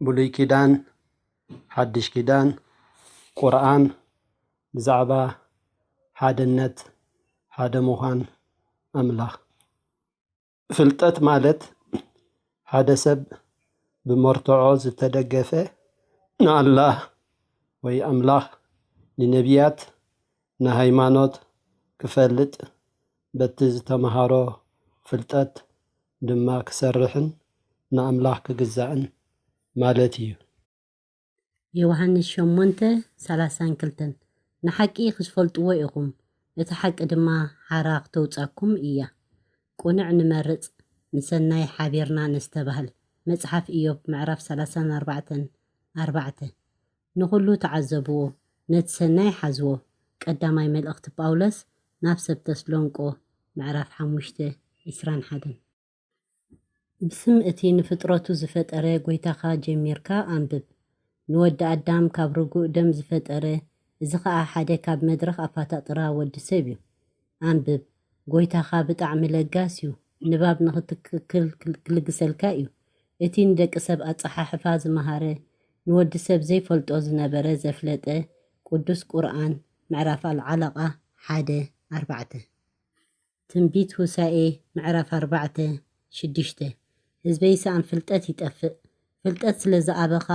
ብሉይ ኪዳን ሓዱሽ ኪዳን ቁርኣን ብዛዕባ ሓድነት ሓደ ምዃን ኣምላኽ ፍልጠት ማለት ሓደ ሰብ ብመርትዖ ዝተደገፈ ንኣላህ ወይ ኣምላኽ ንነቢያት ንሃይማኖት ክፈልጥ በቲ ዝተመሃሮ ፍልጠት ድማ ክሰርሕን ንኣምላኽ ክግዛእን ማለት እዩ። የውሃንስ ሸሞንተ ሰላሳን ክልተን ንሓቂ ክትፈልጥዎ ኢኹም፣ እታ ሓቂ ድማ ሓራ ክተውጻኩም እያ። ቁንዕ ንመርጽ፣ ንሰናይ ሓቢርና ነስተባህል፣ መጽሓፍ እዮብ ምዕራፍ ሰላሳን ኣርባዕተን፣ ኣርባዕተ። ንኹሉ ተዓዘብዎ ነቲ ሰናይ ሓዝዎ ቀዳማይ መልእኽቲ ጳውሎስ ናብ ሰብ ተስሎንቆ ምዕራፍ ሓሙሽተ ዕስራን ሓደን። ብስም እቲ ንፍጥረቱ ዝፈጠረ ጎይታኻ ጀሚርካ ኣንብብ። ንወዲ ኣዳም ካብ ርጉእ ደም ዝፈጠረ እዚ ኸኣ ሓደ ካብ መድረኽ ኣፋታጥራ ወዲ ሰብ እዩ። ኣንብብ ጎይታኻ ብጣዕሚ ለጋስ ዩ ንባብ ንኽትክክል ክልግሰልካ ዩ እቲ ንደቂ ሰብ ኣጸሓሕፋ ዝመሃረ ንወዲ ሰብ ዘይፈልጦ ዝነበረ ዘፍለጠ ቁዱስ ቁርኣን ምዕራፍ ኣልዓለቃ ሓደ ኣርባዕተ ትንቢት ሁሳኤ ምዕራፍ ኣርባዕተ ሽዱሽተ ህዝበይ ሰኣን ፍልጠት ይጠፍእ ፍልጠት ስለ ዝኣበኻ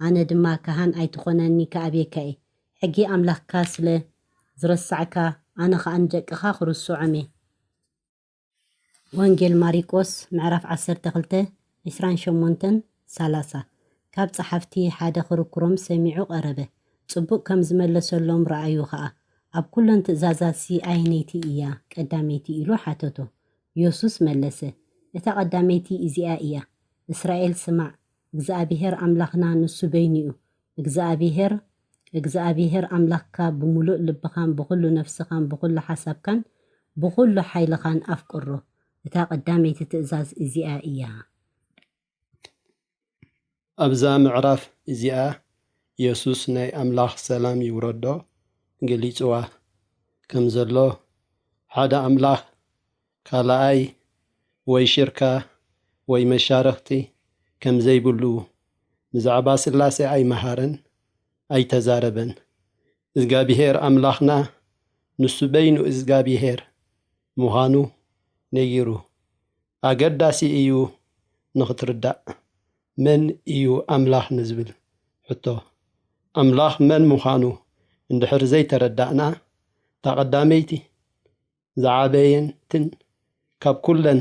ኣነ ድማ ካህን ኣይትኾነኒ ክኣብየካ እየ ሕጊ ኣምላኽካ ስለ ዝረሳዕካ ኣነ ኸኣ ንደቅኻ ኽርስዖም እየ። ወንጌል ማሪቆስ ምዕራፍ ዓሰርተ ክልተ ዕስራን ሸሞንተን ሰላሳ ካብ ጸሓፍቲ ሓደ ኽርክሮም ሰሚዑ ቐረበ፣ ጽቡቕ ከም ዝመለሰሎም ረኣዩ ኸኣ፣ ኣብ ኵለን ትእዛዛትሲ ኣየነይቲ እያ ቐዳመይቲ? ኢሉ ሓተቶ። የሱስ መለሰ፣ እታ ቐዳመይቲ እዚኣ እያ፣ እስራኤል ስማዕ፣ እግዚኣብሄር ኣምላኽና ንሱ በይኑ እዩ፣ እግዝኣብሄር እግዝኣብሄር ኣምላክካ ብምሉእ ልብኻን ብኹሉ ነፍስኻን ብኹሉ ሓሳብካን ብኹሉ ሓይልኻን ኣፍቅሮ እታ ቀዳመይቲ ትእዛዝ እዚኣ እያ። ኣብዛ ምዕራፍ እዚኣ የሱስ ናይ ኣምላኽ ሰላም ይውረዶ ገሊጽዋ ከም ዘሎ ሓደ ኣምላኽ ካልኣይ ወይ ሽርካ ወይ መሻርኽቲ ከም ዘይብሉ ብዛዕባ ሥላሴ ኣይመሃረን ኣይተዛረበን። እዝጋቢሄር ኣምላኽና ንሱ በይኑ እዝጋቢሄር ምዃኑ ነጊሩ። ኣገዳሲ እዩ ንኽትርዳእ መን እዩ ኣምላኽ ንዝብል ሕቶ። ኣምላኽ መን ምዃኑ እንድሕር ዘይተረዳእና እታ ቀዳመይቲ ዝዓበየትን ካብ ኩለን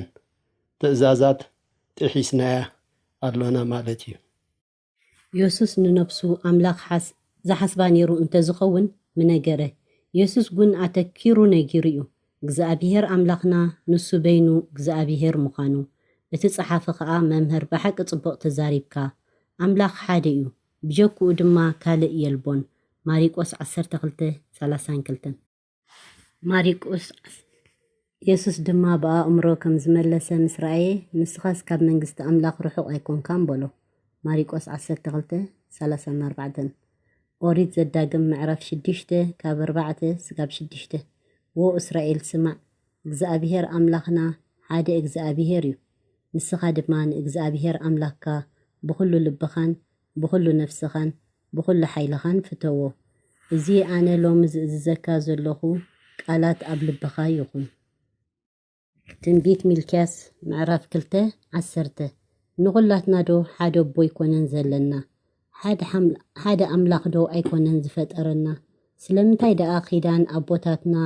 ትእዛዛት ጥሒስናያ ኣሎና ማለት እዩ። የሱስ ንነፍሱ ኣምላኽ ሓስ ዝሓስባ ነይሩ እንተ ዝኸውን ምነገረ። የሱስ ጕን ኣተኪሩ ነጊሩ እዩ፣ እግዝኣብሄር ኣምላኽና ንሱ በይኑ እግዝኣብሄር ምዃኑ። እቲ ጸሓፊ ኸኣ መምህር ብሓቂ ጽቡቕ ተዛሪብካ፣ ኣምላኽ ሓደ እዩ፣ ብጀክኡ ድማ ካልእ የልቦን፣ ማሪቆስ ዓሰርተ ክልተ፣ ሰላሳን ክልተን። ማሪቆስ የሱስ ድማ ብኣእምሮ ከም ዝመለሰ ምስ ረኣየ፣ ንስኻስ ካብ መንግስቲ ኣምላኽ ርሑቕ ኣይኰንካን በሎ። ማሪቆስ ዓሰርተ ክልተ፣ ሰላሳን ኣርባዕተን ኦሪት ዘዳግም ምዕራፍ ሽዱሽተ ካብ ኣርባዕተ ስጋብ ሽዱሽተ ዎ እስራኤል ስማዕ እግዚኣብሄር ኣምላኽና ሓደ እግዚኣብሄር እዩ ንስኻ ድማ ንእግዚኣብሄር ኣምላኽካ ብዅሉ ልብኻን ብዅሉ ነፍስኻን ብዅሉ ሓይልኻን ፍተዎ። እዚ ኣነ ሎሚ ዝእዝዘካ ዘሎኹ ቃላት ኣብ ልብኻ ይኹን። ትንቢት ሚልክያስ ምዕራፍ ክልተ ዓሰርተ፣ ንዅላትናዶ ሓደ ኣቦ ኣይኰነን ዘለና? ሓደ ኣምላኽዶ ኣይኰነን ዝፈጠረና? ስለምንታይ ደኣ ኺዳን ኣቦታትና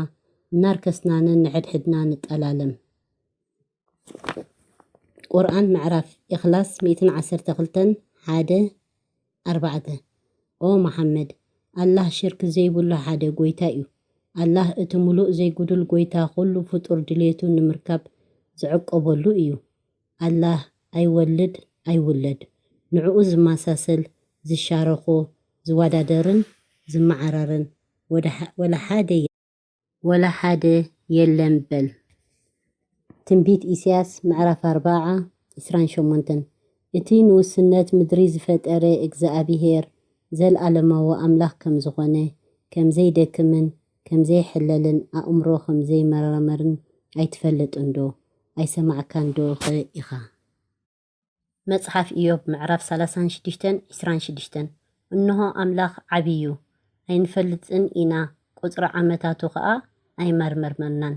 እናርከስና ነንሕድሕድና ንጠላለም? ቁርኣን ምዕራፍ ኢኽላስ ሚእትን ዓሰርተ ክልተን ሓደ ኣርባዕተ ኦ መሓመድ! ኣላህ ሽርክ ዘይብሉ ሓደ ጎይታ'ዩ። ኣላህ እቲ ምሉእ ዘይጉዱል ጎይታ ኩሉ ፍጡር ድልየቱ ንምርካብ ዝዕቆበሉ እዩ። ኣላህ ኣይወልድ ኣይውለድ፣ ንዕኡ ዝመሳሰል፣ ዝሻረኾ፣ ዝወዳደርን ዝመዓራረን ወላ ሓደ የለን። ወላ ሓደ የለን በል። ትንቢት ኢሳያስ ምዕራፍ ኣርባዓ ዕስራን ሸሞንተን እቲ ንውሱነት ምድሪ ዝፈጠረ እግዝኣብሄር ዘልኣለማዊ ኣምላኽ ከም ዝኾነ፣ ከም ዘይደክምን ከም ዘይሕለልን ኣእምሮ ከም ዘይመራመርን ኣይትፈልጥንዶ? ኣይሰማዕካንዶ'ኸ ኢኻ? መጽሓፍ እዮብ ምዕራፍ ሰላሳን ሽዱሽተን ዕስራን ሽዱሽተን፣ እንሆ ኣምላኽ ዓቢ እዩ፣ ኣይንፈልጥን ኢና፣ ቍጽሪ ዓመታቱ ኸኣ ኣይመርመርናን።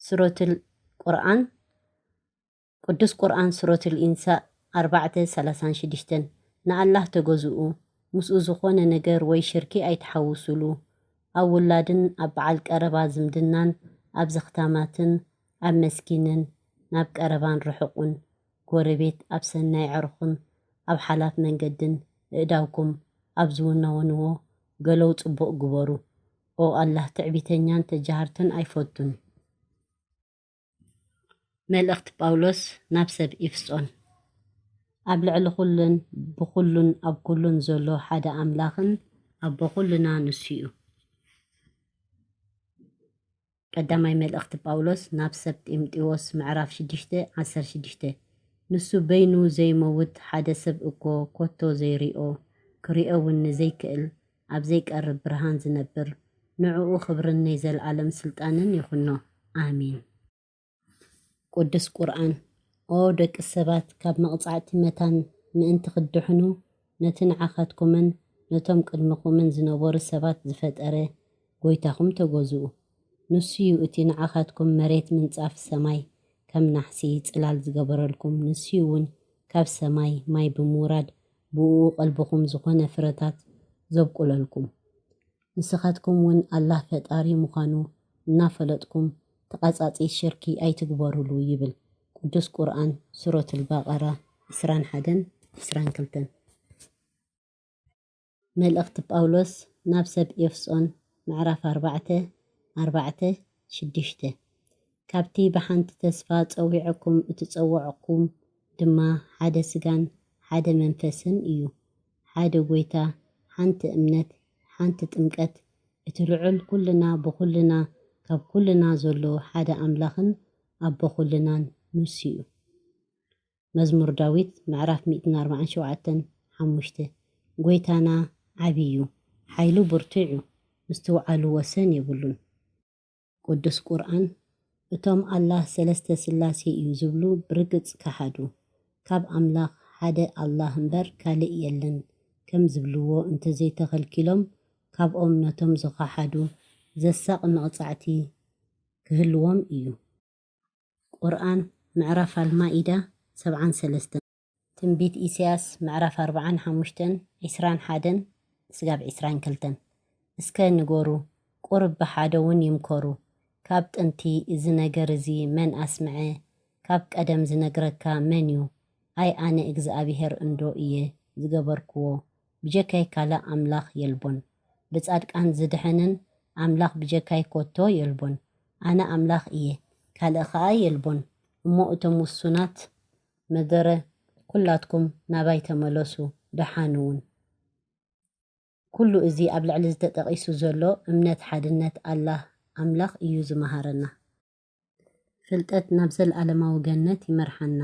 ሱረቱል ቍርኣን፣ ቅዱስ ቍርኣን ሱረቱል ኢንሳ ኣርባዕተ ሰላሳን ሽዱሽተን፣ ንኣላህ ተገዝኡ፣ ምስኡ ዝዀነ ነገር ወይ ሽርኪ ኣይትሓውሱሉ፣ ኣብ ውላድን ኣብ በዓል ቀረባ ዝምድናን ኣብ ዘኽታማትን ኣብ መስኪንን ናብ ቀረባን ርሑቕን ጎረቤት ኣብ ሰናይ ዕርኹን ኣብ ሓላፍ መንገድን እእዳውኩም ኣብ ዝውነውንዎ ገሎው ጽቡቕ ግበሩ ኦ ኣላህ ትዕቢተኛን ተጃሃርትን ኣይፈቱን። መልእኽቲ ጳውሎስ ናብ ሰብ ኢፍሶን። ኣብ ልዕሊ ኹሉን ብኹሉን ኣብ ኩሉን ዘሎ ሓደ ኣምላኽን ኣቦ ኹሉና ንሱ'ዩ። ቀዳማይ መልእኽቲ ጳውሎስ ናብ ሰብ ጢምጢዎስ ምዕራፍ ሽዱሽተ ዓሰርተ ሽዱሽተ ንሱ በይኑ ዘይመውት ሓደ ሰብ እኮ ኮቶ ዘይሪኦ ክሪኦ ውን ንዘይክእል ኣብ ዘይቀርብ ብርሃን ዝነብር ንዕኡ ክብርን ነይ ዘልኣለም ስልጣንን ይኹኖ ኣሜን። ቅዱስ ቁርኣን፣ ኦ ደቂ ሰባት ካብ መቕጻዕቲ መታን ምእንቲ ክትድሕኑ፣ ነቲ ንዓኻትኩምን ነቶም ቅድመኹምን ዝነበሩ ሰባት ዝፈጠረ ጎይታኹም ተገዝኡ። ንሱ'ዩ እቲ ንዓኻትኩም መሬት ምንጻፍ ሰማይ ከም ናሕሲ ጽላል ዝገበረልኩም፣ ንሱ'ውን ካብ ሰማይ ማይ ብምውራድ ብእኡ ቀልብኹም ዝኾነ ፍረታት ዘብቁለልኩም። ንስኻትኩም ውን ኣላህ ፈጣሪ ምዃኑ እናፈለጥኩም ተቓጻጺ ሽርኪ ኣይትግበሩሉ ይብል ቅዱስ ቁርኣን ሱረቱል በቀራ ዕስራን ሓደን ዕስራን ክልተን። መልእኽቲ ጳውሎስ ናብ ሰብ ኤፍሶን ምዕራፍ ኣርባዕተ ኣርባዕተ ሽዱሽተ፣ ካብቲ ብሓንቲ ተስፋ ጸዊዐኩም እትጸወዕኩም ድማ ሓደ ስጋን ሓደ መንፈስን እዩ፣ ሓደ ጎይታ፣ ሓንቲ እምነት፣ ሓንቲ ጥምቀት፣ እቲ ልዑል ኩልና ብኩልና ካብ ኩልና ዘሎ ሓደ ኣምላኽን ኣቦ ኩልናን ንሱዩ። መዝሙር ዳዊት ምዕራፍ ሚእትን ኣርባዓን ሸውዓተን ሓሙሽተ ጐይታና ዓቢ እዩ፣ ሓይሉ ብርቱዕ እዩ፣ ምስትውዓሉ ወሰን የብሉን። ቅዱስ ቁርኣን እቶም ኣላህ ሰለስተ ስላሴ እዩ ዝብሉ ብርግጽ ከሓዱ፣ ካብ ኣምላኽ ሓደ ኣላህ እምበር ካልእ የለን ከም ዝብልዎ እንተዘይተኸልኪሎም ካብኦም ነቶም ዝኸሓዱ ዘሳቒ መቕጻዕቲ ክህልዎም እዩ። ቁርኣን ምዕራፍ ኣልማኢዳ ሰብዓን ሰለስተን። ትንቢት ኢሳያስ ምዕራፍ ኣርብዓን ሓሙሽተን ዕስራን ሓደን ስጋብ ዕስራን ክልተን። እስከ ንገሩ ቁርብ ብሓደውን ይምከሩ ካብ ጥንቲ እዚ ነገር እዚ መን ኣስምዐ ካብ ቀደም ዝነግረካ መን ዩ ኣይ ኣነ እግዝኣብሄር እንዶ ኢየ ዝገበርክዎ ብጀካይ ካልእ ኣምላኽ የልቦን ብጻድቃን ዝድሕንን ኣምላኽ ብጀካይ ኮቶ የልቦን ኣነ ኣምላኽ እየ፣ ካልእ ኸኣ የልቦን። እሞ እቶም ውሱናት መደረ፣ ኵላትኩም ናባይ ተመለሱ፣ ደሓን እውን። ኵሉ እዚ ኣብ ላዕሊ ዝተጠቒሱ ዘሎ እምነት ሓድነት ኣላህ፣ ኣምላኽ፣ እዩ ዝመሃረና። ፍልጠት ናብ ዘለኣለማዊ ገነት ይመርሓና።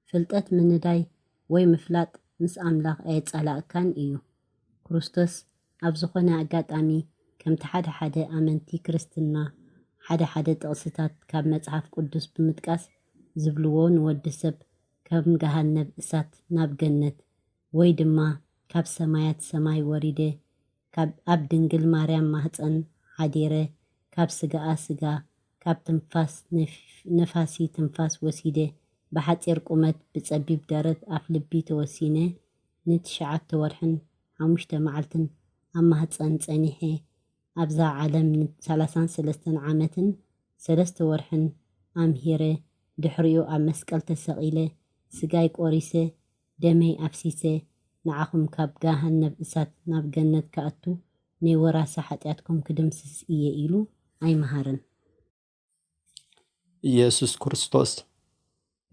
ፍልጠት ምንዳይ ወይ ምፍላጥ ምስ ኣምላኽ ኣየጻላእካን እዩ። ክርስቶስ ኣብ ዝዀነ ኣጋጣሚ ከምቲ ሓደ ሓደ ኣመንቲ ክርስትና ሓደ ሓደ ጥቕስታት ካብ መጽሓፍ ቅዱስ ብምጥቃስ ዝብልዎ ንወዲ ሰብ ከም ገሃነብ እሳት ናብ ገነት ወይ ድማ ካብ ሰማያት ሰማይ ወሪደ ካብ ኣብ ድንግል ማርያም ማህጸን ሓዲረ ካብ ስጋኣ ስጋ ካብ ትንፋስ ነፋሲ ትንፋስ ወሲደ ብሓጺር ቁመት ብጸቢብ ደረት ኣፍልቢ ተወሲነ ንትሽዓተ ወርሕን ሓሙሽተ መዓልትን ኣብ ማህጸን ጸኒሐ ኣብዛ ዓለም ን ሰላሳን ሰለስተን ዓመትን ሰለስተ ወርሕን ኣምሂረ ድሕሪኡ ኣብ መስቀል ተሰቂለ ስጋይ ቆሪሰ ደመይ ኣፍሲሰ ንዓኹም ካብ ገሃነብ እሳት ናብ ገነት ከኣቱ ነይ ወራሲ ሓጥያትኩም ክድምስስ እየ ኢሉ ኣይመሃረን። ኢየሱስ ክርስቶስ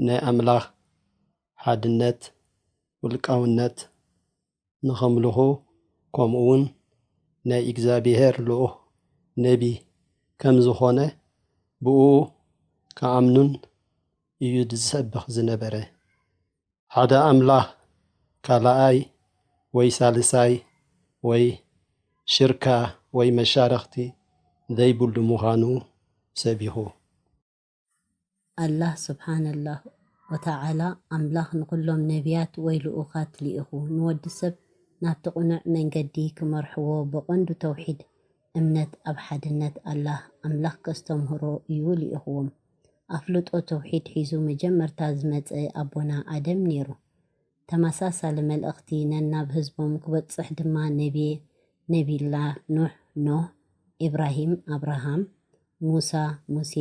ናይ ኣምላኽ ሓድነት ውልቃውነት ንኸምልኹ ከምኡ እውን ናይ እግዚኣብሔር ልኡኽ ነቢ ከም ዝኾነ ብእኡ ክኣምኑን እዩ ዝሰብኽ ዝነበረ። ሓደ ኣምላኽ ካልኣይ ወይ ሳልሳይ ወይ ሽርካ ወይ መሻርኽቲ ዘይብሉ ምዃኑ ሰቢኹ። ኣላህ ሱብሓነላሁ ወተዓላ ኣምላኽ ንኹሎም ነብያት ወይ ልኡኻት ልኢኹ ንወዲ ሰብ ናብቲ ቅኑዕ መንገዲ ክመርሕዎ ብቐንዱ ተውሒድ እምነት ኣብ ሓድነት ኣላህ፣ ኣምላኽ፣ ከስተምህሮ እዩ ልኢኹዎም። ኣፍልጦ ተውሒድ ሒዙ መጀመርታ ዝመጸ ኣቦና ኣደም ኔሩ። ተመሳሳሊ መልእኽቲ ነናብ ህዝቦም ክበጽሕ ድማ ነብየ ነብይላህ ኑሕ፣ ኖህ፣ ኢብራሂም፣ ኣብራሃም፣ ሙሳ፣ ሙሴ፣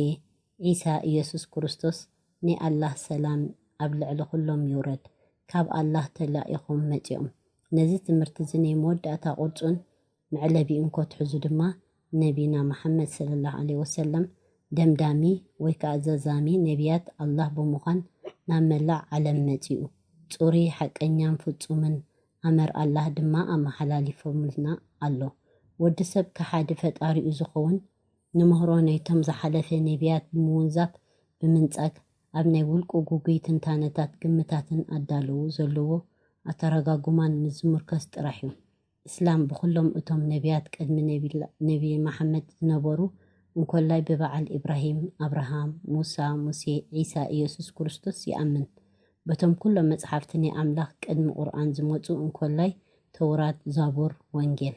ዒሳ፣ ኢየሱስ ክርስቶስ፣ ናይ ኣላህ ሰላም ኣብ ልዕሊ ኩሎም ይውረድ፣ ካብ ኣላህ ተላኢኹም መጺኦም። ነዚ ትምህርቲ'ዚ ናይ መወዳእታ ቁርጹን መዕለቢ እንኮ ትሕዙ ድማ ነቢና መሓመድ ሰለላሁ ዓለይሂ ወሰለም ደምዳሚ ወይ ከኣ ዘዛሚ ነቢያት ኣላህ ብምዃን ናብ መላእ ዓለም መጺኡ። ጽሩይ፣ ሓቀኛን ፍጹምን ኣመር ኣላህ ድማ ኣመሓላሊፎምልና ኣሎ። ወዲ ሰብ ከሓዲ ፈጣሪኡ ዝኸውን ንምህሮ ናይቶም ዝሓለፈ ነቢያት ብምውንዛፍ፣ ብምንጻግ፣ ኣብ ናይ ውልቁ ግጉይ ትንታነታትን ግምታትን ኣዳለዉ ዘለዎ ኣተረጋጉማን ምስ ዝሙርከስ ጥራሕ'ዩ። እስላም ብኹሎም እቶም ነብያት ቅድሚ ነብይ መሓመድ ዝነበሩ እንኮላይ ብበዓል ኢብራሂም፣ ኣብርሃም፣ ሙሳ፣ ሙሴ፣ ዒሳ፣ ኢየሱስ ክርስቶስ ይኣምን። በቶም ኩሎም መጽሓፍቲ ናይ ኣምላኽ ቅድሚ ቁርኣን ዝመጹ እንኮላይ ተውራት፣ ዛቡር፣ ወንጌል።